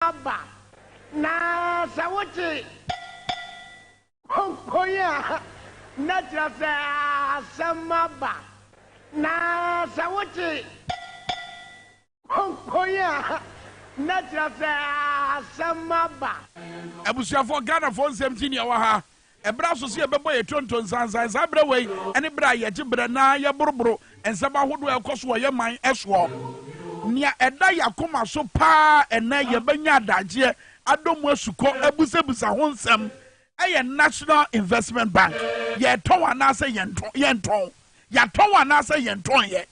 aba na sɛ wogye konkon a na kyerɛ sɛ asɛm aba na sɛ wogye konkon a na kyerɛ sɛ asɛm aba. Abusuafoɔ Ghanafoɔ nsɛm gye nea ɛwɔ ha Ɛberɛ aso sɛ yɛbɛbɔ yɛn tonto nsansan saa berɛ wei ne berɛ a yɛgye berɛ na yɛboroboro nsɛm ahodoɔ a ɛkɔ so wɔ yɛn man soɔ. Nea ɛda yɛn akoma so pa ara ɛnnɛ yɛbɛnya adagyeɛ, adɔ mu asukɔ, abusabisa ho nsɛm yɛ National Investment Bank. Yɛretɔn anaasɛ yɛntɔn? Yɛatɔn anaasɛ yɛntɔnyɛ?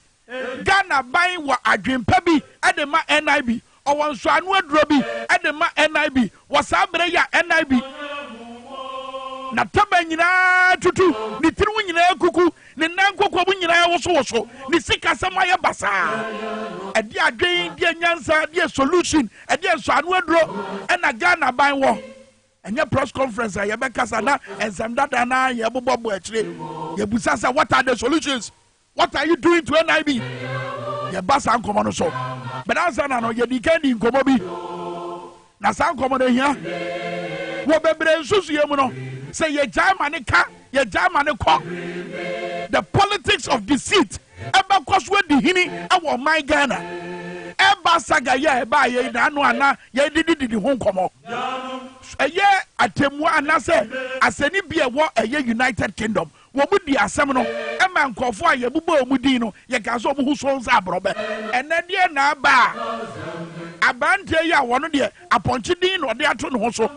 Ghanaban wɔ adwempa bi de ma NIB. Ɔwɔ nsɔano aduro bi de ma NIB wɔ saa berɛ yi a NIB n'ataban nyinaa atutu, ne tiri ho nyinaa akuku, ne nan nkokoam nyinaa awosowoso, ne sikasɛm ayɛ basaa. Ɛdeɛ adwen, deɛ nyansa, deɛ solution, ɛdeɛ nsɔano aduro ɛna Ghanaban wɔ. Ɛnyɛ press conference a yɛbɛkasa na nsɛm dada no ara yɛbobɔ bɔ akyire. Yɛbusa sɛ what are the solutions? What are you doing to NIB? Yɛba saa nkɔmmɔ no so. But ansa na no, yɛdi kan di nkɔmmɔ bi. Na saa nkɔmmɔ no hia. Wɔ bebree nsusuiɛ mu no, sɛ yɛgyae ma ne ka, yɛgyae ma ne kɔ. The politics of deceit ɛbɛkɔ so adi hini ɛwɔ ɔman Ghana. Ɛba saga yɛ ɛbaa yɛn na ano ana yɛdidi didi ho nkɔmmɔ. Ɛyɛ atɛmua anasɛ asɛnni bi ɛwɔ ɛyɛ United Kingdom. Wɔdii asɛm no maa nkurɔfo a yɛbobɔɔ wɔn din no, yɛkaa sɛ wɔn ho sɔ wɔn sɛ aborɔbɛ. Ɛnnɛ deɛn na aba a aberanteɛ yi a ɔno deɛ apɔnkye din na ɔde ato ne ho so,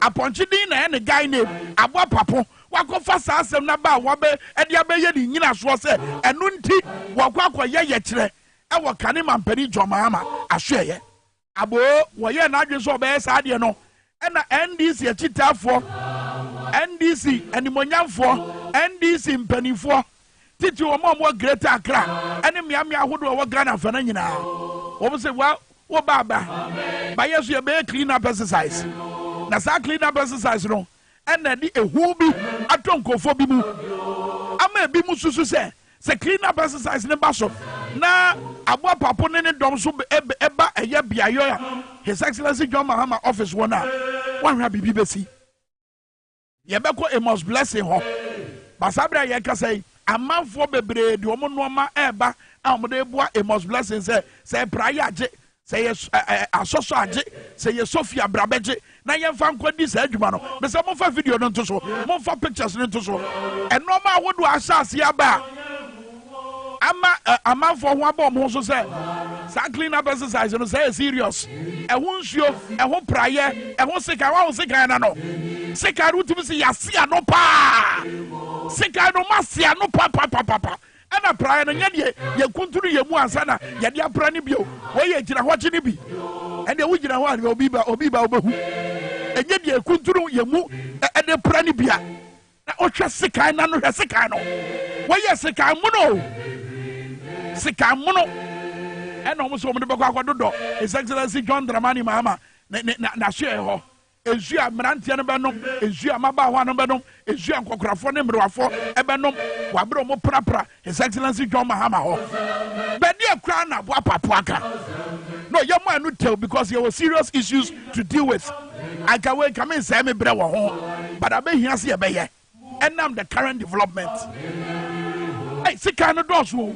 apɔnkye din na ɛyɛ ne guy name, abɔ apapo, wakɔfa saa asɛm no aba a wɔabɛ ɛde abɛyɛ ne nyinasoɔ sɛ ɛno nti wɔkɔ akɔyɛ yɛkyerɛ ɛwɔ Kane Mampanin John Mahama asoɛeɛ. Aboo, wɔyɛɛ n'adwene sɛ ɔbɛyɛ saa deɛ no, ɛna NDC akyitaafoɔ, NDC animuonyamfoɔ, NDC mpanimfoɔ, titiriw wɔn a wɔwɔ Greater Accra ne mmeammea ahodoɔ a wɔwɔ Ghana fa no nyinaa, wɔn sɛ, well, wo ba aba, ba yɛ so yɛbɛyɛ clean up exercise. Na saa clean up exercise no, na ɛde ehu bi atɔ nkurɔfoɔ bi mu ama ebi mu susu sɛ sɛ clean up exercise ne ba so na aboa papo ne ne dɔm nso ɛba ɛyɛ beaeɛ a his excellency john mahama office wɔn a wɔahwɛ a biribi bɛsi yɛbɛkɔ amos blessing hɔ basa berɛ a yɛkasa yi amanfoɔ bebree de wɔn nnoɔma ɛreba a wɔde boa amos blessing sɛ sɛ ɛpra yɛ agye Sɛ yɛ ɛ ɛ asɔ so agye, sɛ yɛ sɔ fie a bra bɛ gye na yɛn fa nkɔ di saa adwuma no. Mesɛ mo nfa video no nto so, mo nfa pictures no nto so. Nnoɔma ahodoɔ a ahyɛ aseɛ aba a ama ɛ amanfoɔ ho abɔ wɔn ho so sɛ saa clean up exercise no sɛ yɛ serious. Ɛho nsuo, ɛho praeɛ, ɛho sekan, wahu sekan no no? Sekan no wotumi se yɛase ano paa. Sekan no moase ano papapapapa. Ɛna praeɛ no nyɛ deɛ yɛkuntunu yɛn mu ansa na yɛde apra no bio. Wei yɛ gyinahɔkye no bi. Ɛndeɛ wogyina hɔ a obi ba obi ba wobɛhu. Ɛnyɛ deɛ yɛkuntunu yɛn mu de pra no bia. Na wohwɛ sekan no ano hwɛ sekan no. Wɔyɛ sekan mono o. Sekan mono ɛna wɔn nso wɔn de bɛkɔ akɔdodɔ His Excellency John Dramani Mahama n'asoɛɛ hɔ. Nsu a mmeranteɛ no bɛnom, nsu a mmabaawa no bɛnom, nsu a nkɔkorafoɔ ne mmerewafoɔ bɛnom wɔ abere a wɔprapra His Excellency John Mahama hɔ. Bɛdeɛ koraa na Aboapapo aka. No, yɛmma ɛno tɛw because yɛwɔ serious issues to deal with. Anka wei nka mensɛe me berɛ wɔ ho, but abɛhia sɛ yɛbɛyɛ ɛnam the current development. Ei, sekan no dɔɔso o.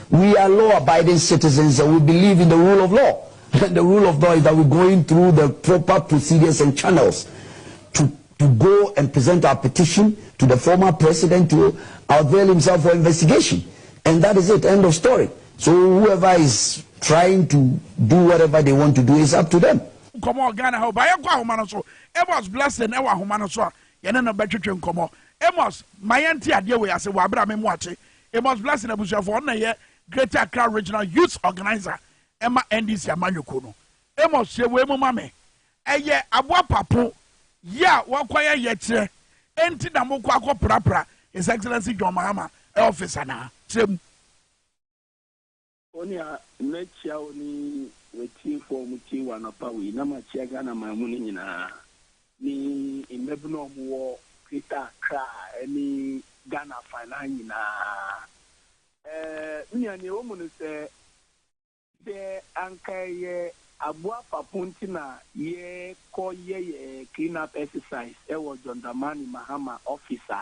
We are law abiding citizens and we believe in the rule of law and the rule of law is that we going through the proper procedures and channels to to go and present our petition to the former president to avail himself for investigation and that is it end of story so whoever is trying to do whatever they want to do is up to them. nkɔmɔ wɔ Ghana ha o, ba yɛnkɔ ahoma no so. Amos Blessing ɛwɔ ahoma no so a yɛne no bɛtwetwe nkɔmɔ. Amos, ma yɛnte adeɛ wei ase wɔ abere a me mmoa kye Amos Blessing abusuafoɔ, ɔno na ɛyɛ Greater Accra Regional Youth Organiser ɛma NDC amanyɔkuo no. Amos, hyɛ wei mu ma me, ɛyɛ aboa papo yɛ a wɔakɔyɛ yɛkyerɛ enti na mokɔ akɔ prapra His Excellency John Mahama office anaa? Kyerɛ mu. Onua, mɛkyia wo ne w'atiefoɔ a wɔtie wo anɔpa wei, na makyia Ghana man mu no nyinaa, ne mmabunu a wɔwɔ Greater Accra ne Ghana afanaa nyinaa. Ɛɛ, me nua, nea ɛwɔ mu ne sɛ, sɛ anka ɛyɛ aboa fapon nti na yɛkɔ yɛ yɛn clean-up exercise wɔ John Dramani Mahama office a,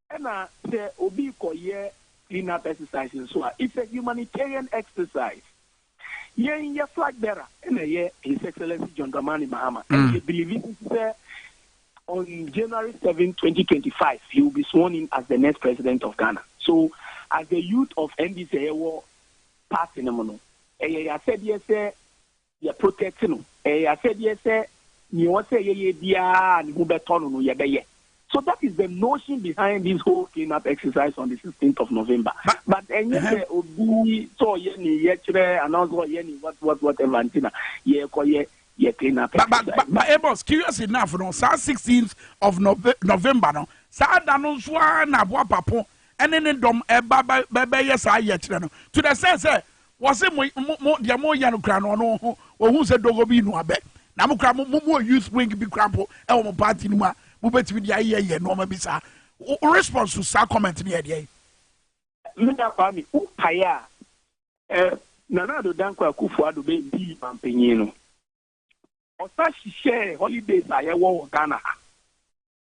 Ɛna sɛ obi rekɔyɛ clean up exercise nso a, it's a humanitarian exercise. Yɛn yɛ flag bearer ɛna ɛyɛ His Excellency John Dramani Mahama. Mm. And yɛ believe sɛ on January 7, 2025, he will be sworn in as the next president of Ghana. So as the youth of NDC ɛyɛ wɔ party no mu no, ɛyɛ yɛ asɛdeɛ sɛ yɛ protect no, ɛyɛ asɛdeɛ sɛ nea ɛwɔ sɛ yɛyɛ biara a ne ho bɛtɔ no no yɛbɛyɛ. So that is the notion behind this whole clean up exercise on the 16th of November. But, but ɛnyɛ sɛ obi sɛ ɔyɛ ne yɛkyerɛ anaa sɛ ɔyɛ ne what what whatever nti na yɛkɔyɛ yɛ clean up But, but, exercise. but, but Amos, curious enough no, saa 16th of Nove- November no, saa da no nso ara na aboa papo ɛne ne dɔm ɛba bɛ- bɛbɛyɛ saa yɛkyerɛ no. To the sense sɛ Wɔse mo mo mo deɛ mo yɛ no kura no ɔno ho ohun sɛ dogo bi no abɛ na mo kura mo mo mo youth wing bi kura mpo ɛwɔ mo party no mu a mo betumi de ayɛ yɛ nneɛma bi saa o response to saa comment no yɛ deɛ. Nana Kwame wo pae a ɛ Nana Addo Dankwa Akufo Addo bɛ dii manpanyin no ɔsa hyehyɛɛ holidays a yɛ wɔ wɔ Ghana ha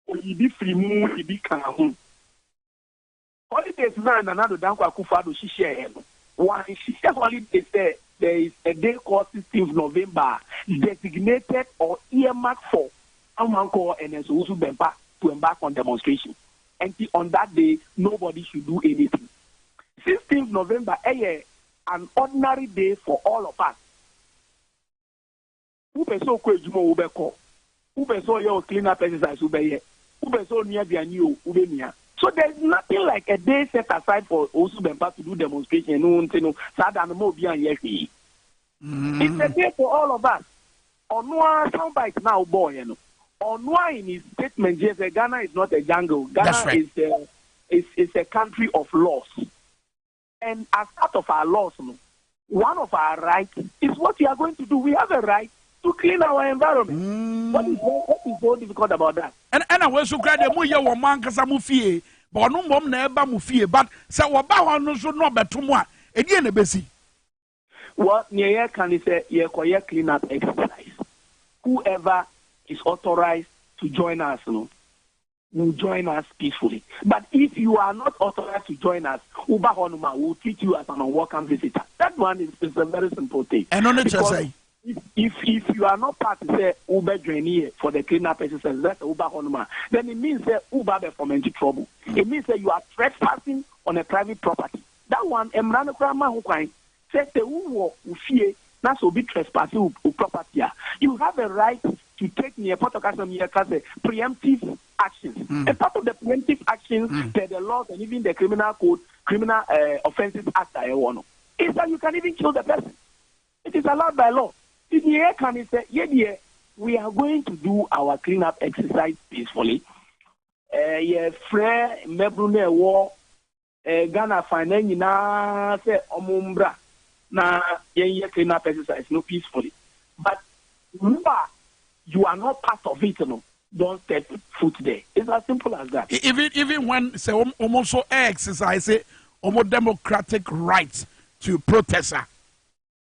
ɔyii bi firi mu de bi kaa ho. Holidays no a Nana Addo Dankwa Akufo-Addo hyehyɛeɛ no, wɔanhyehyɛ holidays sɛ there is a day called sixteenth November a designated or earmarked for Ahumankɔɔ and Nso Owusu Bɛmpa to embark on demonstration. Ɛnti on that day nobody should do anything. Sixteenth November yɛ an ordinary day for all of us. Wo pɛ sɛ ɔkɔ adwuma o, wo bɛ kɔ. Wo pɛ sɛ ɔyɛ ɔ clean up exercise, wo bɛ yɛ. Wo pɛ sɛ ɔnua aduane o, wo bɛ nua. So there is nothing like a day set aside for Owusu Bempah to do demonstration ɛno nti no saa da no mma obiara nyɛ hwee. It's a day for all of us. Ɔno ara sound bite no a wo bɔɔeɛ no, ɔno ara in his statement yɛ sɛ Ghana is not a jungle, Ghana is a is is a country of laws. and as part of our laws no, one of our right is what we are going to do, we have a right to clean our environment. Mm. What, is, what is so difficult about that? And and away so cry mo ye wo man kasa mo fie, but no mom na eba mo fie, but sɛ wɔba hɔ no so no bɛto mo a, ɛdeɛ na ɛbɛsi? Well neɛ yɛka ne sɛ yɛrekɔyɛ clean up exercise. Who ever is authorized to join us no will join us peacefully but if you are not authorized to join us woba hɔ nom a we will treat you as an unwelcome visitor that one is is a very simple thing. Ɛno ne kyerɛ sɛn? If if if you are not part sɛ wobɛ join yɛ for the clean up exercise na sɛ woba hɔ nom a then it means sɛ woba abɛ foment trouble. It means sɛ you are trespassing on a private property. That one mmara no koraa ma ho kwan sɛ sɛ wo wɔ wo fie na sɛ obi trespass wo wo property a you have a right to take neɛ pɔtɔ kasa mu yɛ ka sɛ preemptive actions and part of the preemptive actions per the laws and even the criminal code criminal eh, offences act a yɛ wɔ no is that you can even kill the person it is allowed by law ti neɛ yɛ ka ne sɛ yɛ deɛ we are going to do our clean up exercise peacefully eh, yɛ frɛ mmɛburu na ɛwɔ Ghana fan nan nyinaa sɛ ɔmo mbra na yɛn yɛ clean up exercise no peacefully but wo a you are not part of it no don't step foot there it's as simple as that. Even even when sɛ ɔmo nso ɛ exercise ɔmo democratic right to protest a.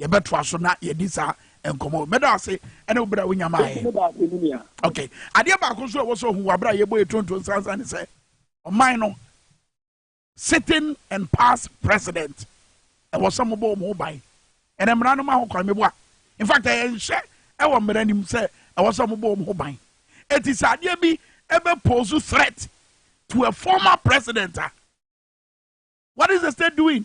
Yɛbɛtoa so na yɛdi saa nkɔmɔ. Mɛda ase ɛne wo bere a wonya maa yɛn. Mɛda ase ne nua. Ok, adeɛ baako nso a ɛwɔ sɛ ohu wɔ abere a yɛbɔ yɛ tonto nsansan ne sɛ ɔman no sitting and past president ɛwɔ sɛ mobɔ wɔn ho ban. Ɛnɛ mmara no ma ho kwan meboa. In fact, ɛyɛ nhyɛ ɛwɔ mmara no mu sɛ ɛwɔ sɛ mobɔ wɔn ho ban. Eti sɛ adeɛ bi ɛbɛ pose threat to a former president a, what is the state doing?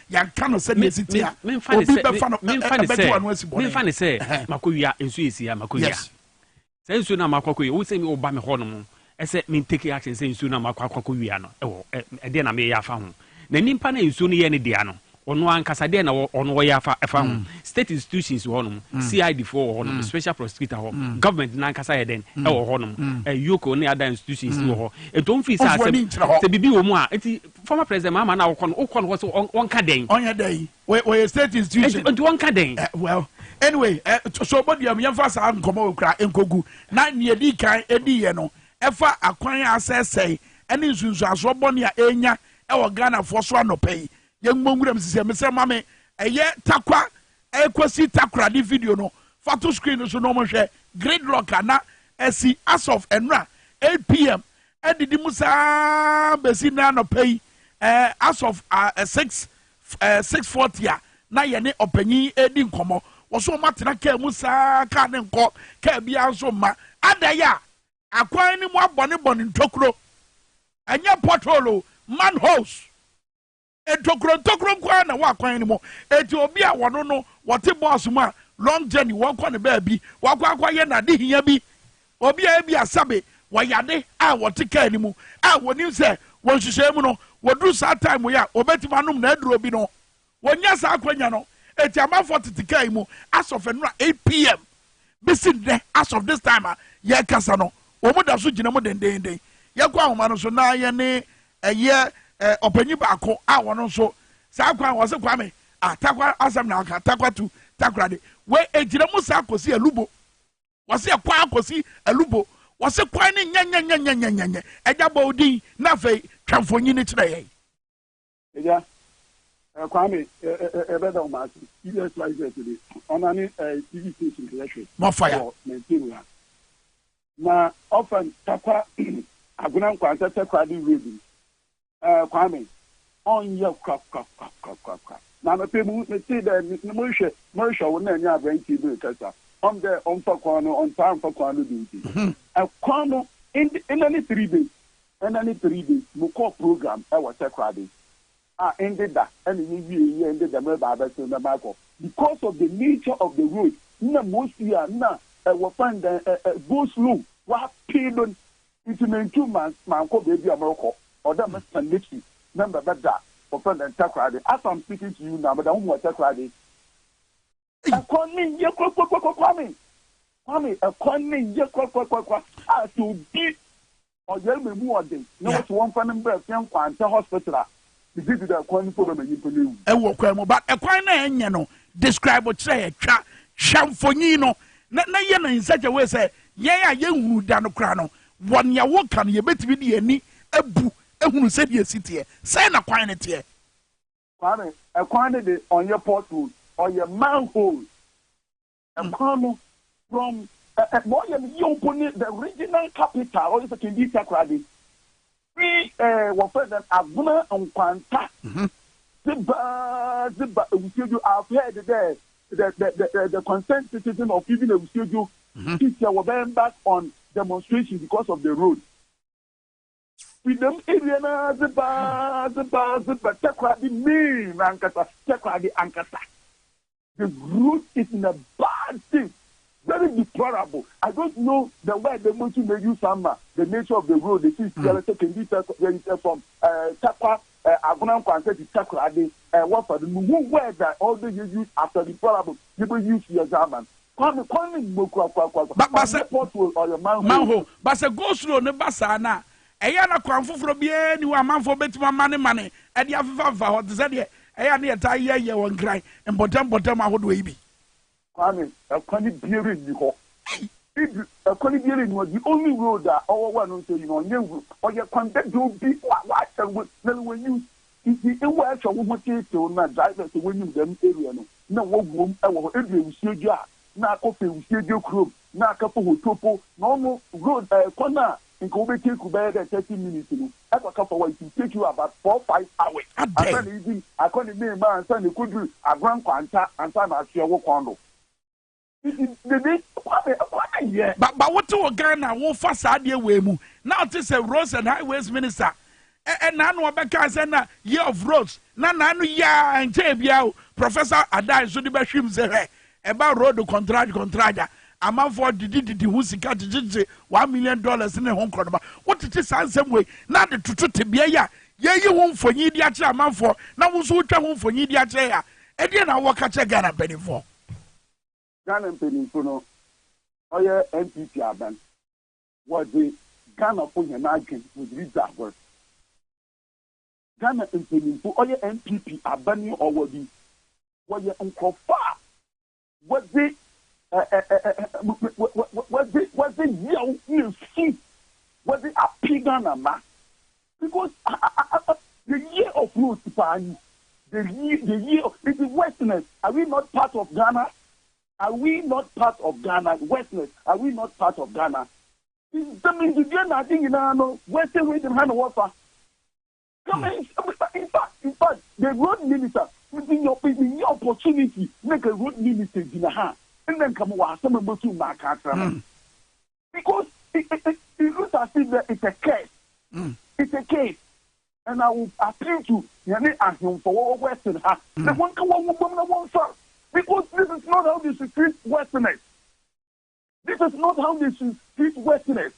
yɛnka no sɛ nea ɛsi tia obi bɛfa no ɛbɛto ano asi bɔne memfa ne sɛ makɔwia nsuo ɛsi a makɔwia sɛ nsuo no a makɔ akɔwia wo sɛ mi woba me hɔ no mu ɛsɛ me take action sɛ nsuo no a makɔ akɔwia no ɛwɔ ɛdeɛ na meyɛ afa ho na nipa na nsuo no yɛ ne dea no ɔno ankasa deɛ na ɔno ɔyɛ afa ɛfa ho state institutions wɔ hɔnom cid foɔ wɔ hɔnom special prosecutor hɔ government no ankasa yɛ dɛn ɛwɔ hɔnom yoko ne ada institutions wɔ hɔ ɛtɔ mfiri sɛ asɛm sɛ biribi wɔ mu a ɛti Former president Mahama na wokɔ no wokɔ no hɔ so ɔnka dɛn? Ɔnyɛ dɛn? Ɔyɛ state institution. Nti ɔnka dɛn? Eh, well, anyway, eh, so bɔdua mu yɛmfa saa nkɔmɔ wɔ kura nkogu na nea edi kan edi yɛ no ɛfa akwan a asɛsɛe ɛne nsunsuansoɔ bɔne a ɛnya ɛwɔ Ghanafoɔ so anɔpɛ yi yɛn mmɔ nwura mu sisi ɛmesɛ ma me ɛyɛ takwa ɛkɔsi takoradi video no fa to screen no so na wɔn hwɛ gridlock a na ɛsi as of ɛnura 8 pm adidi mu saa bɛsi nnɛ anɔpa yi eh, as of uh, eh, 6 eh, 640 a na yɛne ɔpanyin redi nkɔmmɔ wɔ so wɔn atena kaa mu saa kaa ne nkɔ kaa biara nso mma adan a akwan no mu abɔnebɔne ntokuro ɛnyɛ pothole manholes Ntokuro ntokuro nko ara na wɔ akwan no mu. Enti obi a wɔno no wɔte bɔs mu a long journey wɔkɔ ne baabi wakɔ akɔyɛ n'ade hia bi. Obi a ebi asabe wɔyɛ ade a wɔte kaa no mu a wɔnim sɛ wɔ nhyehyɛe mu no wɔduru saa time yi a wɔbɛtumi anom n'aduro bi no. Wɔnya saa akwanya no. Enti amanfoɔ tete kaa yi mu as of nnora 8 pm bɛsi nnɛ as of this time a yɛkasa no wɔn da so gyina mu dendeenden. Yɛkɔ ahoma no so na yɛne Ɛyɛ ɛ ɔpanyin baako a ɔno nso saa kwan wɔ se Kwame ah takwa asɛm na aka takwa tu takora de wei egyina mu saa kɔsi alubo wɔ se ɛkɔ akɔsi alubo wɔ se kwan ne nyɛnyɛnyɛnyɛnyɛnyɛ ɛgya bɔ odin na afei twa mfonyini kyerɛ yɛn. Ɛgya ɛ Kwame ɛ ɛ ɛbɛda ɔmo ase ESYZ de ɔnane ɛ TV station yɛhwɛ More fire. wɔ Mantino ha. Na ɔfa ntakwa agona nkwansa sɛ korade wiedu no, eh, Kwame, ɔnyɛ kwakwakwakwakwa. Na anɔpɛ mu, metee dɛ ne morehwɛ, morehwɛ wo na ɛnyɛ aberanteɛ bi rekasa, ɔm dɛ ɔmfa kwan no, ɔntaa mfa kwan no do nti. Ɛkwan no, nna ne three days, nna ne three days, mokɔɔ program ɛwɔ sɛ korade. a ɛnde da ɛne ne wiei yɛ ɛnde da mu ɛbɛ abɛsen bɛma akɔ. Because of the nature of the road nna mosi a nna ɛwɔ fan dɛn ɛ ɛ go slow. W'apee no nti mentu ma mankɔ baabi a mɛrekɔ ɔdɛ me san n'akyi na mbɛbɛ da wɔfrɛ no dɛn Takoradi as am speaking to you now meda ho mu wɔ Takoradi. Ɛkwan no ye kwakwakwa Kwame Kwame ɛkwan no ye kwakwakwa a sɛ obi ɔyare ma mu ɔden na wɔsi wɔmfa no mbrɛ fie nkwankyɛ hospital a me gye di dɛ ɛkwan no mpo bɛma nyimpa no ewu. Ɛwɔ kwan mu but ɛkwan no a ɛnyɛ no describe kyerɛ yɛ twa hwɛ mfonyin no na na yɛ no in such a way sɛ yɛn a yɛnhunu da no koraa no wɔ nea woka no yɛbɛtumi de yɛn ani abu ahunu sɛdeɛ ɛsi teɛ sɛn na kwan no teɛ. Kwame, ɛkwan no de ɔnyɛ pothole, ɔyɛ manhole. Ɛkwan no from ɛ ɛ nea ɔyɛ no yie mpo ne the regional capital, ɔyɛ sɛ Kindi Takoradi, firi ɛ wɔfrɛ no dɛn Agona Nkwanta de ba de ba Awusiedwo. I have heard dɛ the the the the the concerned citizen of even Awusiedwo, Kyitia wɔbɛn back on demonstration because of the road. Fi dɛm ewia no ara dze ba ara dze ba ara dze ba Takoradi May no ankasa, Takoradi ankasa. The road is in a bad state, very deplorable. I don't know the word dɛ motum me use ama the nature of the road, esi Sialɛsɛ, Kɛndiisa, Yɛnkyɛ from Takwa eh, Agona nkwanhyɛ di twa korade eh, Wɔfa no no ho words a all day yɛ use after the poor album yɛ bɛ use yɛ dza ama no Kwame kwan ne mmɔ kura kwa kwa kwa Ba sɛ, pothole ɔyɛ manhole. manhole Ba sɛ go slow no ba saa no a ɛyɛ a na kwan foforɔ biara nni hɔ a amanfoɔ bɛtumi amane mane de afefa afefa hɔ te sɛ deɛ ɛyɛ a na yɛtaa yɛ yɛ wɔ Nkran mpɔtam mpɔtam ahodoɔ yi bi. Kwame, ɛkwan biara nni hɔ. Ibi, ɛkwan biara nni hɔ. The only road a ɔwɔ wɔ ɛno nso yi no, ɔnyɛ road. Ɔyɛ kwan dadaw bi. Wa, w'ahyɛ wo, na w'anim. Nti wɔ ɛhwɛ wo ho teetew na drivers a wɔnim dɛm area no, na wɔwom wɔ hɔ. Edu awusie dwa a, na akɔ fɛ awusie dwa kurom. na aka po hotuo po na ɔmo road ɛɛ kwan a nka wo bɛ take bɛyɛ dɛ thirty minutes no ɛkɔ ka fa wa it will take you about four five hours ansa na edi akɔ ne main ma ansa na ɛkɔ duru Agoran Kwanta ansa na asoɛ wo kwan do nti dede kwan ne kwan ne yɛ. Ba ba wo te wɔ Ghana wo fa saa adeɛ wei mu na wo te sɛ roads and highways minister Ɛ ɛ n'ano ɔbɛkaa sɛ na year of roads na n'ano ye a ɛnkyɛɛ biaa o Professor Adah nso de bɛhwim sɛ hwɛ ɛba road kɔntrage kɔntrage a amanfoɔ didi didi ho sika gyegye gyegye one million dollars ne ho nkorɔnoma wotete saa nsɛm wei na ade toto tebea yi a yɛreyi ho mfonyin de akyerɛ amanfoɔ na wo nso wotwa ho mfonyin de akyerɛ yɛn a ɛdeɛn na wowɔ ka kyerɛ Ghana mpaninfoɔ? Ghana mpaninfo no ɔyɛ NPP aban. wɔdze Ghanafo hɛn adwen wɔdze ridzi agor. Ghana mpanyimfo, ɔyɛ NPP aban yi ɔwɔ do yi, wɔyɛ nkorɔfo a wɔdze wɔdze wɔdze yaw na su wɔdze ape Ghana mba because the year of no paa nyi, the year, the year, ntsi westerners are we not part of Ghana? Are we not part of Ghana? Westners, are we not part of Ghana? Sɛ mendidie na ade nyinaa no western wisdom ha na wɔfa kama infact infact the road minister menya opportunity na nka road minister gyina ha nna nka mewɔ asɛm a mɛtum maaka akyerɛ no because it it it it looks as if that it's a curse mm. it's a case and I will appeal to yɛne ahemfo wɔwɔ western ha na mm. wɔn ka wɔn ho bom na wɔn fa because this is not how they should treat westerners this is not how they should treat westerners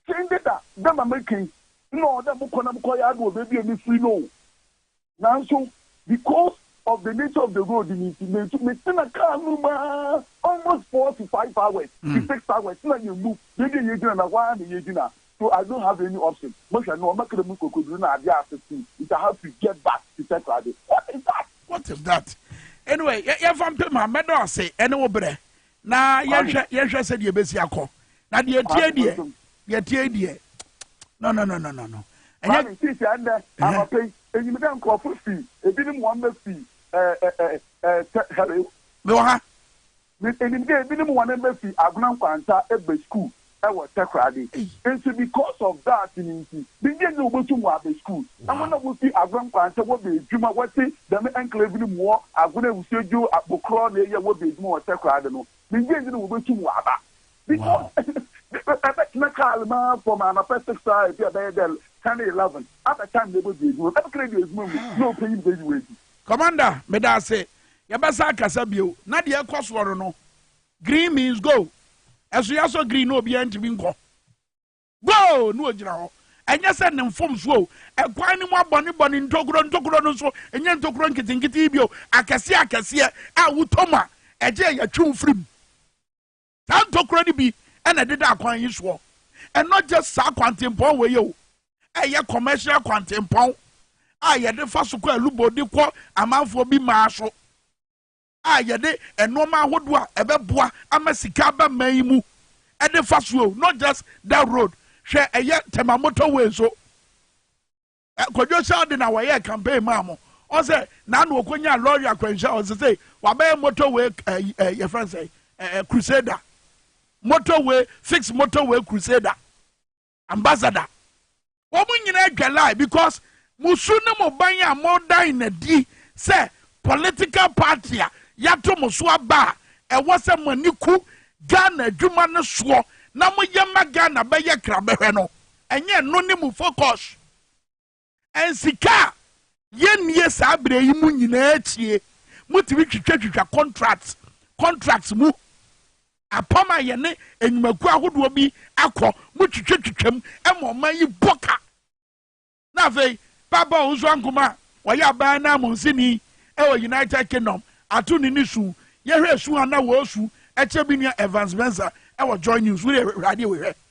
sɛn de da dɛm american na ɔdɛ mo kɔ na mo kɔ yɛ adi wɔ beebi a mi firi no Nanso because of the nature of the road no nti, mentu, metena car no mu ara almost four to five hours to six hours na yɛn mu yɛn deɛ yɛgyina na hɔ ara na yɛgyina so I don't have any option. Mohwɛ no, ɔma kra mu kokoduru na adeɛ ase too nti I have to get back to Takoradi. What is that? What is that? Anyway, yɛ, yɛmfa mpem a, mɛdɔ ase ɛne wo berɛ. na yɛnhwɛ yɛnhwɛ sɛ deɛ ebesi akɔ na deɛ etie deɛ deɛ etie deɛ no no no no no no. ɛnyɛ maame sisi ɛnɛ anɔpɛ yi enyim dɛ nkorɔfo fi ebinom wɔn mma fi ɛɛ ɛɛ ɛɛ sɛ hello. mewɔ ha. enim dɛ ebinom wɔn mma fi agona nkwanta ɛbɛ sukuu wɔ takoradi nti because of that no nti bnnyɛ nyɛ wobotum wɔaba skuul na hɔn a wofi Agwenkwan sɛ wɔbɛ edwuma wɔtse dɛm enclave no mu wɔ Agwen Awusuadwo Abokorɔ na eyɛ wɔbɛ edwuma wɔ takoradi no bnnyɛ nyɛ na wobotum wɔaba because ebɛtsena kaal mu ara from anapa six a ebi a bɛyɛ dɛ ten eleven abɛ time na ebɔdu edwuma mu ebɛka dɛ edu edwuma mu na opanyin no beyi wo edzi. Commander, meda ase. Yɛbɛsan akasa bio. Na deɛ ɛrekɔ soɔ no no, Green means go. Ɛso yɛasɔ green na obiara ntumi nkɔ. Go! Na ogyina hɔ. Ɛnyɛ sɛ ne mfomso o. Ɛkwan no mu abɔnebɔne ntokuro ntokuro no nso, ɛnyɛ ntokuro nketenkete yi bio. Akɛseɛ akɛseɛ a wotɔ mu a, ɛgye a yɛtwe wo firi mu. Saa ntokuro no bi na ɛdeda akwan yi soɔ. Ɛnɔ gye saa kwantempɔn wei o. Ɛyɛ commercial kwantempɔn a yɛde fa so kɔ Alubo de kɔ amanfoɔ bi maa so. a yɛde nnoɔma ahodoɔ a ɛbɛboa ama sika aba man yi mu de fa so o not just that road hwɛ ɛyɛ tema motorway nso kwadwo sɛ ɔde na wɔyɛ campaign maa mo ɔsɛ na na ɔkɔnya lɔre akwanhyia ɔsɛ sɛ wabɛyɛ motorway yɛfrɛ sɛ crusader motorway fix motorway crusader ambassador wɔn nyinaa dwalae because mo su ne mo ban a modan no adi sɛ political party a yɛato mo so aba a ɛwɔ sɛ mo ani ku Ghana adwuma no soɔ na moyɛ ma Ghana bɛyɛ krabɛhwɛ no ɛnyɛ ɛno ne mo focus Nsika a yɛnnie saa berɛ yi mu nyinaa akyie, motumi twitwatwitwa contract contract mu. Apam a yɛne nnwumakuo ahodoɔ bi akɔ, motwitwatwitwam ma ɔman yi bɔ ka. Na afei, Paapa Owusu Ankomah a ɔyɛ aban ananmusini wɔ United Kingdom ato ne ne su. Yɛhwɛ su a na wɔresu kyerɛ me nua Evans Mensah wɔ Joy News. Wo deɛ hwɛ adeɛ wei hwɛ.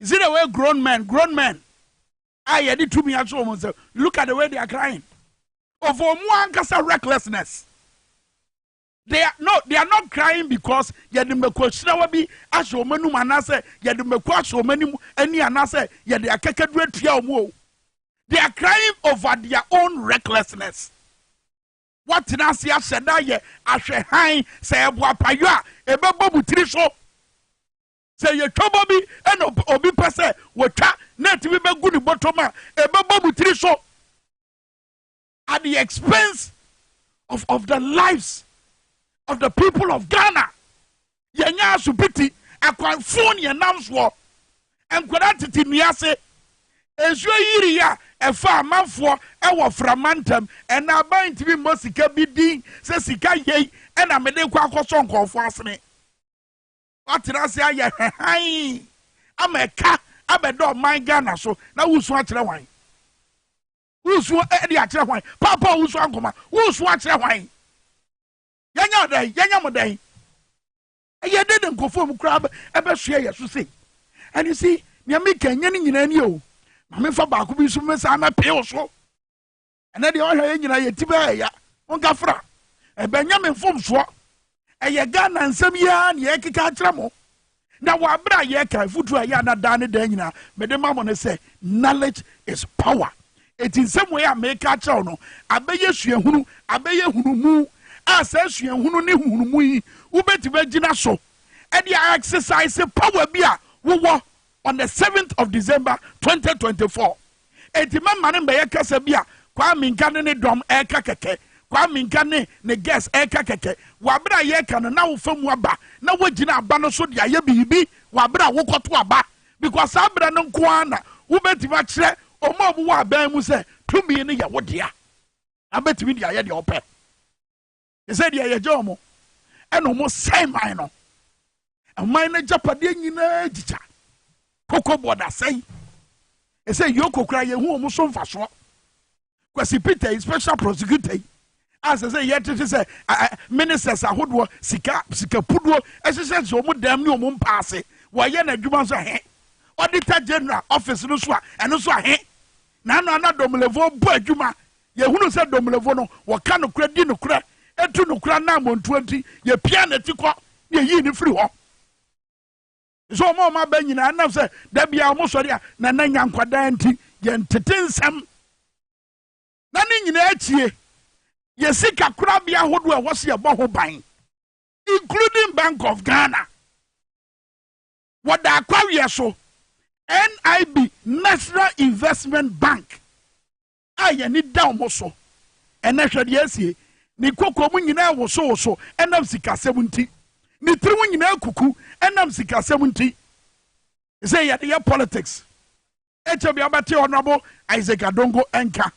you see the way grown men grown men a yɛde tumi ato wɔn nsam look at the way they are crying of wɔn ankasa recklessness they are no they are not crying because yɛde mmɛkɔ hyirawa bi ahyɛ wɔn anum anaasɛ yɛde mmɛkɔ ahyɛ wɔn anim ani anaasɛ yɛde akakaduro atua wɔn o they are crying over their own recklessness wɔtena ase ahyɛ da yɛ ahwɛ hann sɛ ɛbo apayɔ a ɛbɛbɔ mu tiri so. Sɛ yɛtwa bɔ bi na obi pɛ sɛ wɔtwa na ɛtumi bɛgu ne bɔtɔm a, ɛbɛbɔ mo tiri so at the expense of, of the lives of the people of Ghana. Yɛnyɛ asopiti, akwanfo ne yɛnam soɔ. Nkwadaa tete nnua ase. Nsuo yiri a ɛfa amanfoɔ wɔ frama ntam. Ɛna aban ntumi mmɔ sika bi din sɛ sika yei ɛna mede kɔ akɔsɔ nkɔɔfoɔ asene. Woatena ase ayɛ hann ama ɛka abɛda ɔman Ghana so na woresu akyerɛ hwan? Woresu de akyerɛ hwan? Paapa a wosua nkɔma, woresu akyerɛ hwan? Yɛnyɛ wo dɛn? Yɛnyɛ mo dɛn? Ɛyɛ dɛn na nkurɔfoɔ mu koraa ɛbɛsoɛ yɛ so sei? And you see, nea meka nyɛ ne nyinaa nie o. Ma memfa baako bi nso mesan mɛpee wo so. ɛnɛ deɛ ɔhwɛ yɛ nyina yɛti bɛɛ ɛya monka fra ɛbɛnyɛ me mfomsoɔ ɛyɛ ghana nsɛm yi ara ne yɛkeka akyerɛ mo na wɔ aberɛ a yɛka afutuo a ɛyɛ ana daa ne daa nyinaa mede ma mo ne sɛ knowledge is power ɛti nsɛm wei a meka akyerɛ wo no abɛyɛ suahunu abɛyɛ hunumu a saa suahunu ne hunumu yi wobɛtumi agyina so ɛde exercise power bi a wowɔ on the seventh of December twenty twenty four. Enti mɛma no mbɛyɛ kasa bi a Kwame Nka ne ne dɔm ɛreka kɛkɛ. Kwame Nka ne ne guest ɛreka kɛkɛ. Wɔ abere a yɛreka no na wofa mu aba na woagyina aba no so de ayɛ biribi wɔ abere a wokɔto aba because saa abere no nko ara na wobɛtumi akyerɛ wɔn a wɔwɔ aban mu sɛ tumi no yɛ wo dea na bɛtumi de ayɛ deɛ wɔpɛ. Ɛsɛ deɛ yɛgye wɔn ɛna wɔn sɛn man no. Ɛman no agyapadeɛ nyinaa gyigya. Koko board asɛe. Ɛsɛ yoko koraa yɛhu wɔn so mfasoɔ. Kwasi Peter yi special prosecutor yi a sɛ sɛ yɛtete sɛ ministers ahodoɔ sika sika puduo ɛhyehyɛ sɛ wɔn dɛm ne wɔn mpa ase wɔyɛ n'adwuma nso ahe auditor general office no so a ɛno nso ahe Na ɛno a na Domlevo bɔ adwuma. Yɛhunu sɛ Domlevo no, wɔka nokorɛ, di nokorɛ, tu nokorɛ ananmɔntuo nti, yɛpiaa n'akyi kɔ na yɛyii no firii hɔ. Nso wɔn a wɔaba nyinaa, ɛnam sɛ da biara wɔsɔre a, na na nya nkwadaa nti, yɛntete nsɛm. Na ne nyinaa akyie, yɛn sika korabea ahodoɔ a ɛwɔ so yɛbɔ ho ban, including Bank of Ghana. Wɔ Daakwaweɛ so, NIB, National Investment Bank, a yɛn ani da wɔn so ɛnnɛ, hwɛ deɛ asie, Ne kokoam nyinaa wosowoso ɛnam sikasɛm nti. Ne tirim nyinaa kuku ɛnam sikasɛm nti. Ɛsɛ yɛde yɛ politics. Ekyir bi abɛtse Honourable Isaac Adongo nka,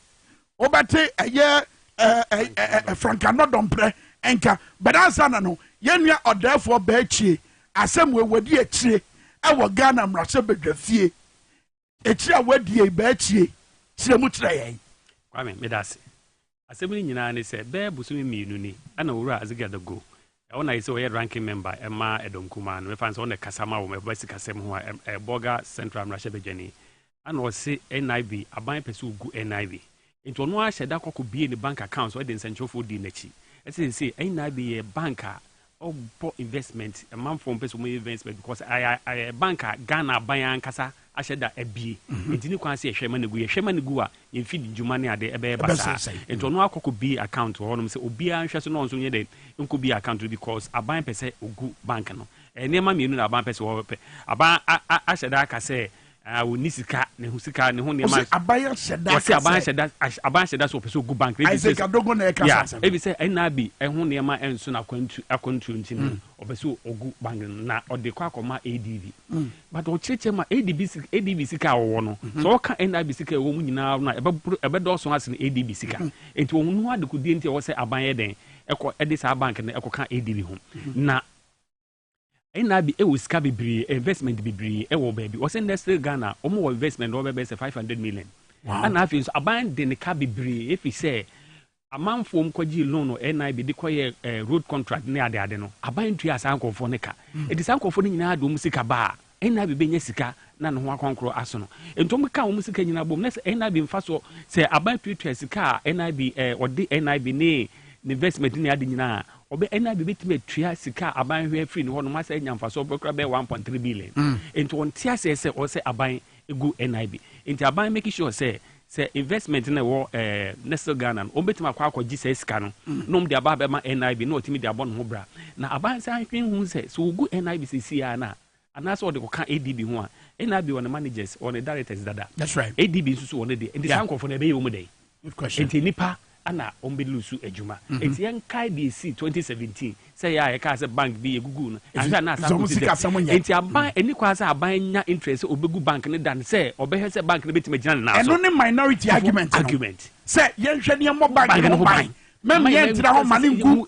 wobɛtse ɛyɛ ɛɛ Franka Nɔdɔmprɛ nka, but ansana no yɛn nua ɔdɛɛfoɔ Bɛɛkyie asɛm wei wadi akyire ɛwɔ Ghana mmarahyɛ badwafie. Akyire a wadie Bɛɛkyie kyerɛ mu kyerɛ yɛn. Kwame, meda ase. Asɛm no nyinaa ne sɛ bɛyɛ bosome mmienu ni na Owura Azikiadago, ɛhɔ na ayɛ sɛ ɔyɛ Ranking Member ma Ɛdɔm Kumaa no, mɛfa no sɛ ɔno na ɛkasa ma wɔn, ɛba sikasɛm ho a, ɛyɛ Bolga Central mmarahyɛbadwani, ɛna ɔse NIB, aban pɛ sɛ wɔgu NIB. Nti ɔno ara hyɛ da kɔ kɔbuee ne bank accounts de nsɛnkyerɛwfoɔ dii n'akyi. Ɛsɛ sɛ seesei NIB yɛ bank a Ɔbɔ investment, amanfoɔ mpɛ sɛ wɔyɛ investment because ayɛ ayɛ bank a Ghana aban ankasa ahyɛ da abie. Nti ne kwan sɛ yɛhwɛ ma no gu, yɛhwɛ ma no gu a yɛn feed dwuma ne ade ɛbɛyɛ basaa. Ɛbɛsensɛn. Nti ɔno akɔ kɔ bie account wɔ hɔnom sɛ obiara nhwɛ so na ɔno nso nyɛ dɛn nkɔ bie account no because aban pɛ sɛ ɔgu bank no. Ɛyɛ nneɛma mmienu na aban pɛ sɛ wɔpɛ. Aban a a ahyɛ da aka sɛ Ah, wonni sika, ne ho sika, ne ho nneɛma. Ɔsɛ aban ahyɛ da. Ɔsɛ aban ahyɛ da, aban ahyɛ da so ɔpɛ sɛ ogu bank. Isaac Adogo na ɛka saa asɛm. Ebi sɛ NRB ɛho nneɛma ɛnso na akwantu akwantuo nti no ɔpɛ sɛ ogu bank na ɔde kɔ akɔma ADB. But ɔkyerɛkyerɛ ma ADB ADB sika a ɔwɔ no sɛ ɔka NRB sika ɛwɔ mu nyinaa no a ɛbɛ ɛbɛdɔɔso asen ADB sika. Nti wɔn ho adekodie nti ɛwɔ sɛ aban yɛ dɛn ɛkɔ ɛde saa bank no ɛkɔ ka ADB ho na NIB wɔ sika bebree, investment bebree wɔ baabi. Wɔsɛ nnɛ still Ghana, wɔn wɔ investment wɔ bɛbɛyɛ sɛ five hundred million. Wow. Ɛna afei nso aban de ne ka bebree efi sɛ amanfoɔ mu kɔgye loan no NIB de kɔyɛ eh, road contract ne ade ade no aban tua saa nkurɔfoɔ ne ka. Ɛde mm. saa nkurɔfoɔ no nyinaa de wɔn sika baa. NIB bɛnya sika na ne ho akɔnkoro asono. Nti wɔn ka wɔn sika nyinaa bom na sɛ NIB nfa soɔ sɛ aban tuatua sika a NIB ɛɛ eh, ɔde NIB ne ne investment ne ade nyinaa ɔbɛ NIB bɛtumi atua sika a aban hwɛ firi ne hɔ nom asɛ anya nfasoɔ bɛkora bɛyɛ one point three billion. Mm. Nti wɔn te aseɛ sɛ ɔsɛ aban egu NIB. Nti aban make sure sɛ Sɛ investment na ɛwɔ ɛɛ Nestle Ghana no, wɔbɛtumi akɔ akɔgye saa sika no na wɔde aba abɛma NIB na wɔatumi de abɔ ne ho bra. Na Abansi ahwehwɛ hu sɛ, sɛ wɔgu NIB seesei ara no a, anaasɛ wɔde kɔka ADB ho a, NIB wɔ ne managers, wɔ ne directors dada. That's right. ADB nso so wɔ ne deɛ. Nti saa nkorɔfoɔ no ɛbɛyɛ wɔn dɛn? Good question. Nti nnipa ana ɔmbɛ lusu adwuma ɛti yɛ nkae deɛ ɛsii 2017 sɛ yɛ a yɛ kaa sɛ bank bi yɛ gugu no anhwɛ a na asa akɔ ti dɛm ɛti aban ɛni mm. kwa sɛ aban nya interest sɛ ɔbɛ gu bank no dan sɛ ɔbɛ hwɛ sɛ bank no bɛtumi agyina ne nan so ɛno ne minority argument argument sɛ yɛnhwɛ ne yɛmmɔ bank no ho ban mɛmɛ yɛntena hɔ ma ne ngu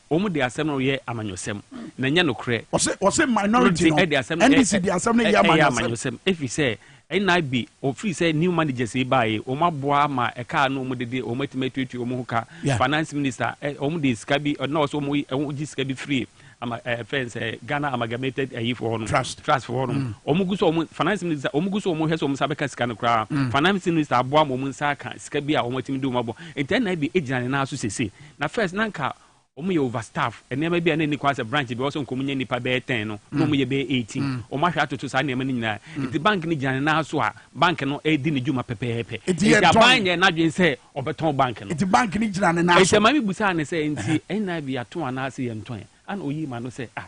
Wɔn de asɛm no yɛ amanyɔsɛm, na ɛnyɛ nokorɛ. Wɔse minority no, NDC de asɛm no yɛ amanyɔsɛm. Ɛfiri sɛ NIB, firi sɛ new managers yi baeɛ, wɔn aboa ama ɛka a na wɔn de de, wɔn atumi atuatua wɔn ho ka. Finance minister, wɔn de sika bi, na wɔse wɔn gye sika bi firi ama ɛfɛn sɛ Ghana Amalgamated ɛyi foɔ no, trust foɔ no. Wɔn gu so, wɔn finance minister, wɔn gu so, wɔn hwɛ sɛ wɔn nsa bɛka sika no koraa. Finance minister aboa ama wɔn nsa aka sika bi a wɔn atumi de wɔn abɔ. Nti NIB gyina ne nan so sese. Na first na nka wɔn yɛ over staff nneɛma bi a na ɛni kwan sɛ branch bi wɔsɔ nka wɔn nyɛ nipa bɛyɛ ten no na wɔn yɛ bɛyɛ eighteen mm. wɔn ahwɛ atoto saa nneɛma no nyinaa mm. nti bank no gyina ne nan so a bank no ɛredi ne dwuma pɛpɛɛpɛ nti aban yɛ n'adwene sɛ ɔbɛtɔn bank no nti bank no gyina ne nan so ɛsɛ maame busaa ne sɛ nti ɛna bi ato anaasɛ yɛn tɔn ɛna oyi ma no sɛ ah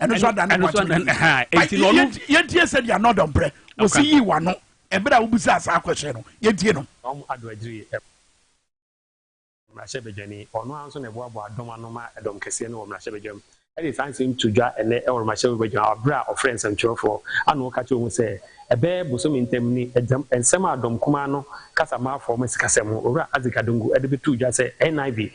ɛno nso ada ne wakyerɛ yɛntie sɛ deɛ anɔdɔ mprɛ wɔsi yii wano ɛberɛ a wobisa saa kwɛhyɛ no yɛntie no ɔm adɔ adiri mmarahyɛbadwani ɔno ara nso na ɛboaboa dɔm ano ma ɛdɔm kɛseɛ no wɔ mmarahyɛbadwam ɛde saa nsɛm to dwa ɛnɛ ɛwɔ mmarahyɛbadwam aberɛ a ɔfrɛ nsɛmtwerɛfoɔ ano ɔka kyerɛ mu sɛ ɛbɛyɛ bosome ntam ni ɛdɛm nsɛm a dɔm kumaa no kasa maafoɔ ma sikasɛm ho owura Isaac Adongo ɛde bɛto dwa sɛ NIV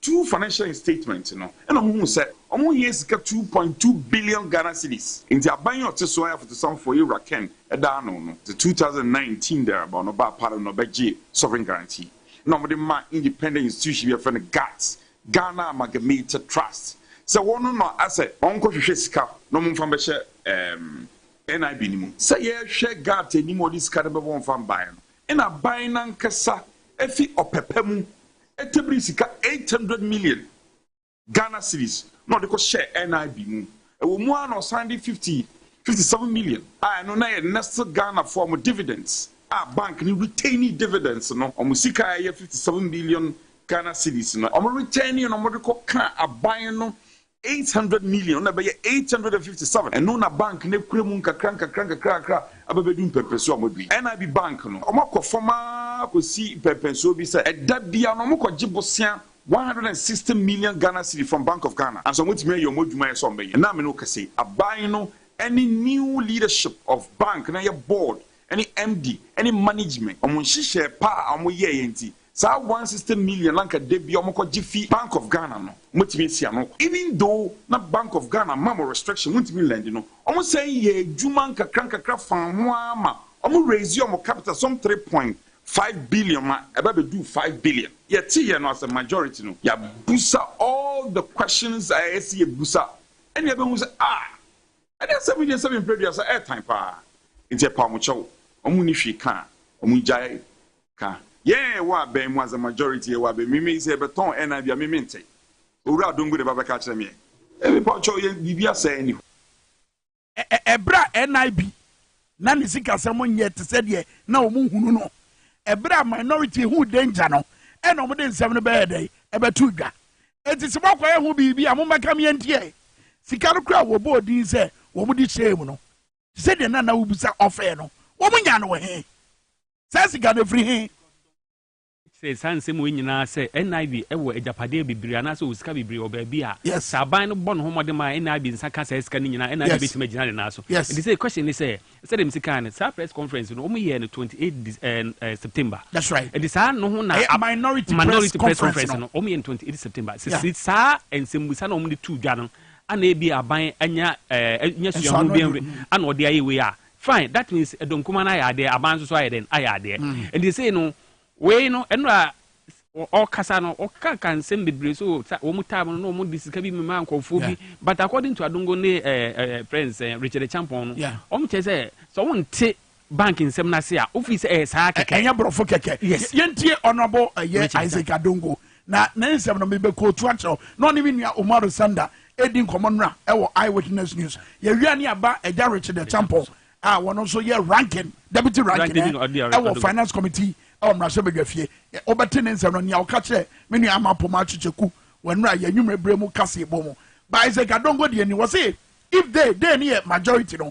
two financial instatement no na wɔhuu sɛ wɔn hia sika two point two billion Ghana cedis nti aban yi a ɔte so ara yɛ afotusamfoɔ Yewura Ken daa ano no dze two thousand and nineteen there about no baa Paris na ɔbɛgyee sovereign guarantee na wɔde maa independent institution bi a wɔfrɛ no GATS, Ghana Amalgamated Trust, sɛ wɔn na asɛ wɔnkɔhwehwɛ sika na wɔmfa mbɛhyɛ ɛɛm NIB no mu. Sɛ yɛrehwɛ GATS anim a ɔde sika no bɛba wɔmfa mbaeɛ no na aban no ankasa afi ɔpɛ pa mu Ɛtebiri sika eight hundred million Ghana cedis na ɔde kɔ hyɛɛ NIB mu. Ɛwɔ mu ara na ɔsan de fifty fifty seven million a ɛno na ɛyɛ Nestle Ghana foɔ wɔn dividends a bank no retainee dividends no wɔn sika a ɛyɛ fifty seven million Ghana cedis no wɔn retainee no wɔde kɔ kaa aban no eight hundred million, ɔno na ɛbɛyɛ eight hundred and fifty seven, ɛno na bank no akura mu nkakra nkakra nkakra nkakra aba bɛdu mpɛmpɛnsoɔ a wɔadu yi. NIB bank no, wɔakɔ fam ara kɔsi mpɛmpɛnsoɔ bi sɛ ɛda biara no wɔkɔgye bosea one hundred and sixty million Ghana cedi from Bank of Ghana, nanso wɔatumi ayɛ wɔn adwuma a ɛsɛ sɛ wɔbɛyɛ. Ɛnnɛ a me ne wo kasa yi, aban no ne new leadership of bank no, ɛyɛ board ne MD ne management, wɔn nhyehyɛɛ pa a wɔyɛeɛ nti, Saa one hundred and sixty million na anka da biara wɔkɔgye fi Bank of Ghana no, wɔatumi asi ano. Even though na Bank of Ghana ma mo restriction, montumi nlɛndi no, wɔsan yɛɛ adwuma nkakrankakra faa ho ara ma wɔn raise wɔn capital some three point five billion ma ɛba bɛduu five billion. Yɛteeɛ no as a majority no, yɛabusa all the questions a ɛsɛ yɛbusa, ɛnna yɛbɛhu sɛ ah! Ɛne asɛm yi nsɛm mpere aduasa ɛɛtan paa nti ɛpaw mo kyɛw wɔn nni hwee ka a wɔn ngyae ka yɛn ɛwɔ abɛn mu as a majority ɛwɔ abɛn mu meme yi sɛ yɛbɛtɔn ɛnan bi a me mente owura adongo na ɛba bɛka akyerɛ me ɛ mepawkyɛw yɛn biribi asɛe ne hɔ. Ɛberɛ a NIB Ná ne sikasɛm nyɛ te sɛ deɛ na wɔhunu no. Ɛberɛ a Minority huu danger no, ɛna wɔde nsɛm no bɛyɛɛ dɛn? Ɛbɛtoo dwa. Enti sɛ moakɔyɛ ho biribi a, mommɛka me antie. Sika no koraa a wɔbɔɔ din sɛ wɔde hyɛɛ mu no, te sɛ deɛ na na wobisa ɔfɛ no, wɔnyaa no wɔ he? Saa sika no, ɛfiri he? Kyerɛ saa nsɛm wei nyinaa sɛ NIV wɔ agyapadeɛ bebree anaasɛ ɔwɔ sika bebree wɔ baabi a, sɛ aban no bɔ ne ho mmɔden ma NIV nsa ka saa sika no nyinaa a, NIV bɛtumi agyina ne nan so. Ɛnti sɛ question ne sɛ, sɛdeɛ mesi kaeɛ no, saa press conference no, wɔyɛɛ no 28 September. Ɛnti saa no ho na minority press conference no, wɔyɛ no 28 September. Sɛ si saa nsɛmmusa no a wɔde too dwa no, ana ebia aban anya suahu biara ana ɔde ayɛ wei a, Fine that means ɛdɔ nkumaa no ayɛ adeɛ aban nso so ayɛ dɛn ayɛ adeɛ nti sei no wei no ɛno a ɔkasa no ɔkaka nsɛm bebree so wɔn taa no na wɔn de sika bi mema nkɔfoɔ bi but according to adongo ne ɛɛ ɛɛ friends ɛɛ richard champon no wɔn kyerɛ sɛ sɛ wɔn nte bank nsɛm no ase a wofi sɛ ɛyɛ saa kɛkɛ ɛnyɛ borɔfo kɛkɛ yes yɛntie honourable ɛyɛ isaac adongo Na ne nsɛm no, mebɛkootu akyerɛ wo. Na ɔne me nua Umaru Sanda redi nkɔmmɔ nnora wɔ Eyewitness News. Yɛawia ne aba Agya Richard Acheampong a ɔno nso yɛ Ranking, Deputy Ranking ɛ, wɔ Finance Committee wɔ Mmarahyɛbadwafie. Wobɛte ne nsɛm no, nea ɔka kyerɛɛ me nua Ama Pomaakye Kyeku wɔ nnora yɛn anwummere berɛ mu kaseɛbɔ mu. Ba Isaac Adongo deɛ ni, ɔse, If they, they no yɛ majority no,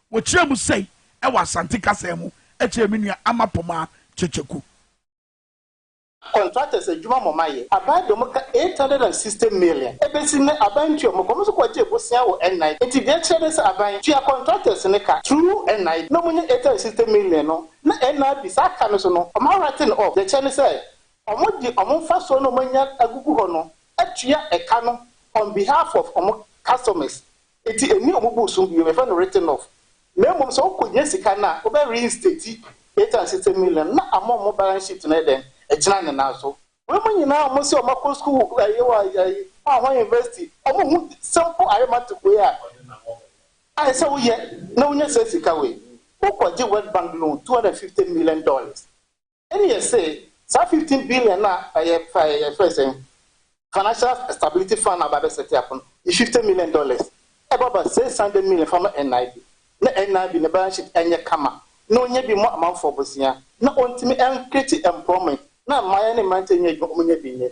Wɔkyerɛɛ mu sei wɔ Asante kasa mu kyerɛɛ me nua Ama Pomah Kyekyeku. Contractors adwuma mo ma yɛ. Aban de ɔmo ka eight hundred and sixty million ebesi nnɛ aban ntua ɔmo ka ɔmo nso kɔ gyee bosea wɔ NIB nti deɛ ɛkyerɛ ne sɛ aban tua contractors ne ka through NIB na ɔmo nya eight hundred and sixty million no na NIB saa ka no so no ɔmo a writing off deɛ ɛkyerɛ ne sɛ ɔmo de ɔmo mfasoɔ no ɔmo anya agugu hɔ no atua ɛka no on behalf of ɔmo customers Enti enni wɔn bo so bio. Yɛfrɛ no written off. Na mmom sɛ wokohia sika no a, wobɛ reinstate eight hundred and sixty million no na ama wɔn balance sheet no ayɛ dɛn? Agyina ne nan so. Wei mu nyinaa a wɔn se wɔn akɔ sukuu wɔ ɛyɛ wɔ ɛyi hwan hwan university, wɔn nhu simple arithmetic wei a ayɛ sɛ woyɛ na wonya saa sika wei. Wokɔ gye World Bank loan two hundred and fifty million dollars. Ɛneɛ se saa fifteen billion no a ɛyɛ faɛ yɛfrɛ sɛn financial stability fund no aba bɛ set up no yi fifty million dollars ɛbɔ aba six hundred million fa ma NIB na NIB ne balance sheet ɛnyɛ kama na ɔnyɛ bi mmɔ amanfoɔ bosea na ɔntumi ɛncreate employment na mmayeɛ ne mmeranteɛ nyɛ adwuma ɔmo nyɛ bi nyɛ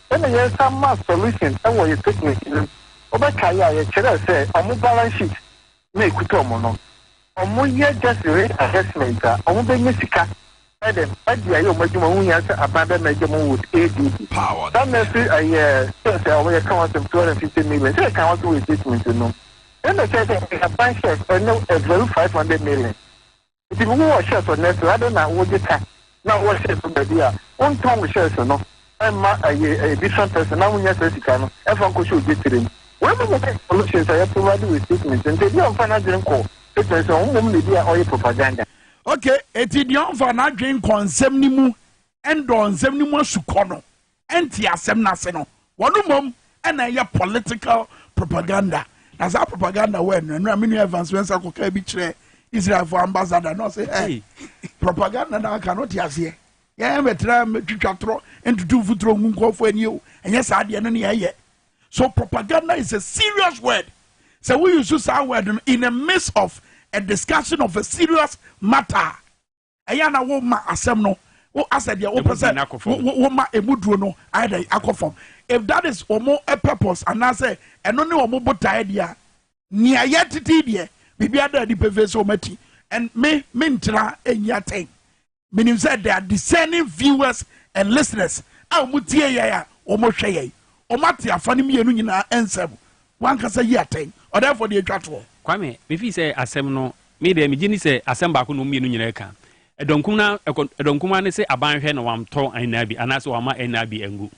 Ɛna yɛn san ma solution wɔ yɛ statement no mu. Wobɛ kae a yɛkyerɛɛ sɛ ɔmo balance sheet na ɛkuta ɔmo no. Ɔmo yɛ just risk assessment a ɔmo bɛ nya sika ɛdɛn ɛde ayɛ ɔmo adwuma ho hia sɛ aban bɛ merge ɔmo with ADB. Saa nursery ɛyɛ shares a ɔmo yɛka ho asɛm two hundred and fifty million sɛ yɛka ho asɛm wɔ yɛ statement no mu. Yɛn bɛ kyerɛ sɛ yɛn aban shares ɛnɛ ɛvalu five hundred million. Ebi mo wɔ hyɛɛs wɔ nɛɛsere adɛn na wogye ka na wowɔ hyɛɛs wɔ baabi a wontɔn wo hyɛɛs no mma ɛyɛ different person na wonya saa sika no ɛfa nkɔhyɛ ogye tire mu wei mo nyɛ informations a yɛ provide wɔ statement no nti ebi a ɔmfa n'adwene nkɔ statement no ɔmmom na ebi a ɔyɛ propaganda. Okay, eti deɛ ɔmfa n'adwene nkɔ nsɛm no mu ɛndɔ nsɛm no mu asukɔ no ɛnte asɛm no ase no wɔn mmom ɛna ɛyɛ political propaganda na saa propaganda wɔ ɛnura nura menu evans wɛn sɛ kɔkɛ bi kyerɛ israel for ambassador na ɔsɛ ɛ propaganda na aka no te aseɛ yɛn bɛtena twitwa torɔ ntutu mfuturo ngu nkɔɔfo ani o ɛnyɛ saa deɛ no ne yɛyɛ so propaganda is a serious word sɛ woyi so saa word no in the midst of a discussion of a serious matter ɛyɛ a na woma asɛm no wo asɛ deɛ wopɛ sɛ woma ɛmu duro no ayɛ dɛ akɔ fam if that is wɔn purpose anaasɛ ɛno ne wɔn botaeɛ deɛ a nea yɛ tete deɛ biribi ada adi pefee sɛ wɔn ati and me me ntena ɛnyi atɛn menim sɛ they are discerning viewers and listeners a wɔn tie yɛn a wɔn hwɛ yɛn wɔn ate afa no mmienu nyinaa nsɛm W'ankasa yi atɛn, ɔdɛɛfoɔ deɛ twa toɔ. Kwame, me fii sɛ asɛm no, me deɛ me gye ni sɛ asɛm baako na wɔn mmienu nyinaa ɛka. Ɛdɔ nkumaa, ɛkɔ, ɛdɔ nkumaa ne se aban hwɛ na wɔn tɔ NIV anaa se wɔn ama NIV ɛngu.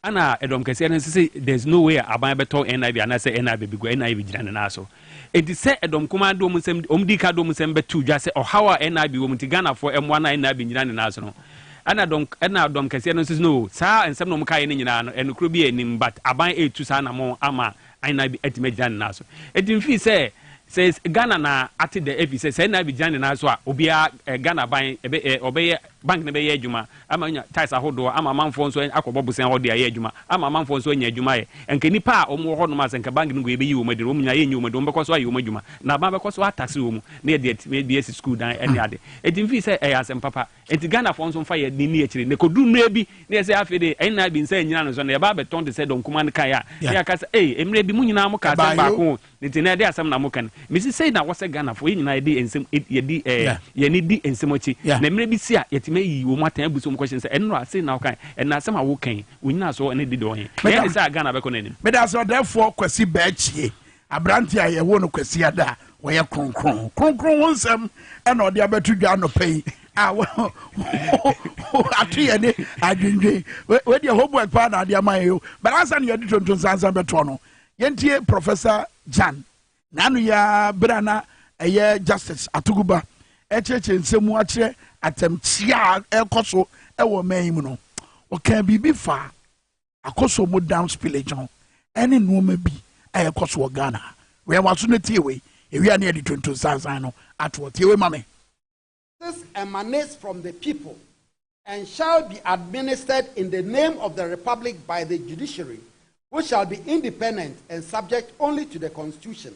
Ɛna ɛdɔm kɛseɛ no nso se there is no way a aban bɛtɔ NIV anaa se NIV bɛgu, NIV gyina ne nan so. Enti sɛ ɛdɔm nkumaa de wɔn nsɛm, wɔn di ka de wɔn nsɛm bɛto dwa sɛ ɔhaw a NIV wɔ mu nti Ghanafoɔ ɛmmoa no a NIV ngyina ne nan so no, Ɛna dɔm ɛna dɔm kɛseɛ no nso no saa nsɛm na wɔn kaeɛ no nyinaa no ɛnokorɛ bi anim but aban ɛretu saa anamɔn ama Aina bi atumi agyina ne nan so. Eti mfii sɛ sɛ Ghana na ate dɛ efi sɛ sɛ Aina bi gyina ne nan so a obiara Ghana aban ɛbɛ ɛ ɔbɛyɛ bank no bɛyɛ adwuma ama anya tax ahodoɔ ama amanfoɔ nso akɔbɔ bosan hɔ de ayɛ adwuma ama amanfoɔ nso anya adwuma ayɛ nka nipa a wɔn wɔ hɔ nom a sɛ nka bank no nko yɛbɛyi wɔn adi no wɔn nyinaa yɛnyi wɔn adi wɔn bɛkɔ so ayɛ wɔn adwuma na aban bɛkɔ so ataxe wɔn na yɛde ɛtumi bi asi sukuu dan ɛne ade eti mfii sɛ ɛyɛ asɛm papa Enti Ghanafoɔ nso mfa yɛn ani nni akyire. Na ɛkɔduru mmerɛ bi na yɛsɛ afei deɛ NIB nsa nnyina no so na yɛba abɛtɔn te sɛ Dɔnkumaa no kaeɛ a, na yɛaka sɛ, Ei, mmerɛ bi mo nyinaa mokaa asɛm baako o, enti ɛnnɛ ɛdeɛ asɛm na moka no? Mese sei na ɛwɔ sɛ Ghanafoɔ, yɛn nyinaa yɛde yɛn nsam yɛdi ɛɛ yɛn ani di nsɛm akyi. Na mmerɛ bi si a, yɛtumi ayi wɔn atɛn abu so wɔn question sɛ, Ɛno a, sei na wokae? Ɛnnɛ asɛm a woka yi, wo nnyinasoɔ ne de dɔɔ he? Ɛyɛ ne saa a Ghana bɛkɔ n'anim? Meda ase Ɔdɛɛfoɔ Kwasi Bɛɛkyie. Aberante a yɛwoo no Kwasiada a ɔyɛ kronkron. Kronkron ho nsɛm na ɔde abɛto dwa anɔpa yi a ato yɛ ne adwendwen. Wedeɛ homework paa na ade ama yɛ yo. But ansa na yɛde tonton sansan bɛtoɔ no, yɛntie Professor Jan n'ano yɛ berɛ a na ɛyɛ Justice Atuguba ɛkyerɛkyerɛ nsɛm mu akyerɛ atɛmkyea a ɛrekɔ so wɔ ɔman yi mu no. Ɔkaa biribi faa akɔ so ɔmo dam spillage no ɛne nnoɔma bi a ɛkɔ so wɔ Ghana ha. Wɛn waso na tie wei, ewia ne yɛde tonton sansan no atoɔ. Tie wei ma me. Taxes emanate from the people and shall be administered in the name of the Republic by the Judiciary which shall be independent and subject only to the Constitution.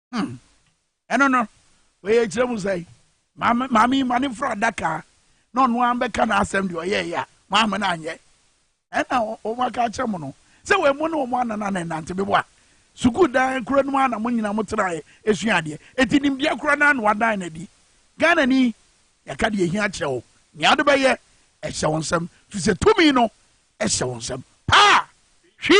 Hmm. Ɛno no, wɔyɛ kyerɛ mu sɛ maame maame yi ma ne fura adaka na ɔno ara bɛka n'asɛm deɛ ɔyɛ yɛ a maame no anyɛ. Ɛna wɔn aka akyerɛ mu no sɛ wɔn mu ne wɔn anana na ɛnante bebo a sukuu dan kura no mu a na mo nyinaa mo tena yɛ esua adeɛ. Eti nimdeɛ kura no ano adan na adi. Ghana ni yɛka deɛ ehia kyerɛ wo nea ɔde bɛyɛ ɛhyɛ wɔn nsam fisɛ tumi no hyɛ wo nsam paa. Hwi!